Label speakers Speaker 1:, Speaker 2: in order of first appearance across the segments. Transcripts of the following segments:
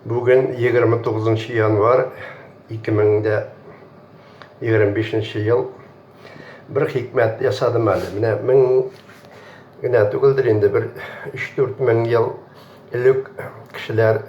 Speaker 1: Бүген 29 январь 2025 ел. Бер хикмәт ясадым әле. Менә мең генә түгелдер инде, бер 3-4 мең ел элек кешеләр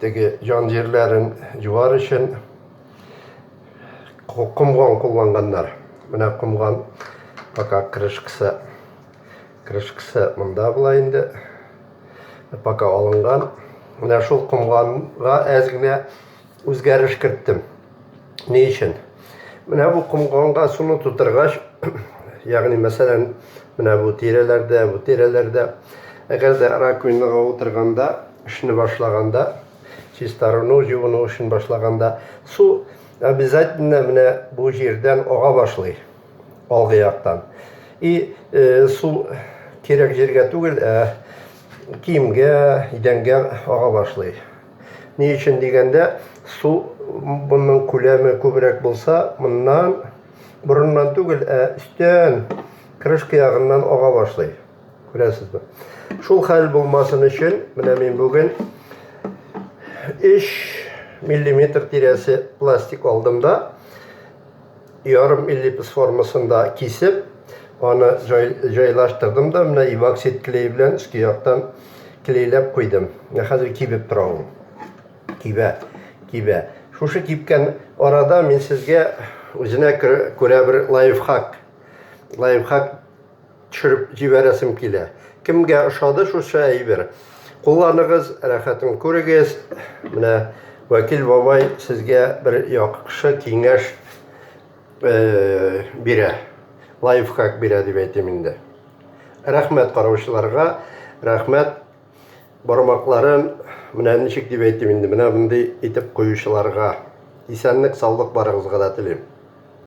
Speaker 1: теге җан җирләрен җуар өчен комган кулланганнар. Менә комган пока крышкасы. Крышкасы монда була инде. Пока алынган. Менә шул комганга әз генә үзгәреш керттем. Ни өчен? Менә бу комганга суны тутыргач, ягъни мәсәлән, менә бу тирәләрдә, бу тирәләрдә, әгәр дә раковинага утырганда, эшне башлаганда, чистарыну, җуыну эшен башлаганда, су обязательно менә бу җирдән ага башлый. алгы яктан. И э, су кирәк җиргә түгел, ә киемгә, идәнгә ага башлый. Ни өчен дигәндә, су моның күләме күбрәк булса, моннан борыннан түгел, ә өстән крышка ягыннан ага башлый. Күрәсезме? Шул хәл булмасын өчен, менә мин бүген 3 миллиметр тирәсе пластик алдым да, ярым эллипс формасында кисеп, аны җайлаштырдым да, менә эваксид клей белән өске яктан клейләп куйдым. Менә хәзер кибеп тора ул. Кибә, кибә. Шушы кипкән арада мин сезгә үзенә күрә бер лайфхак, лайфхак Төшереп җибәрәсем килә. Кемгә ошады шушы әйбер? Кулланыгыз, рәхәтен күрегез. Менә Вәкил бабай сезгә бер яхшы киңәш бирә. Лайфхак бирә дип әйтим инде. Рәхмәт караучыларга, рәхмәт бармакларын менә ничек дип әйтим инде, менә мондый итеп куючыларга. Исәнлек, саулык барыгызга да телим.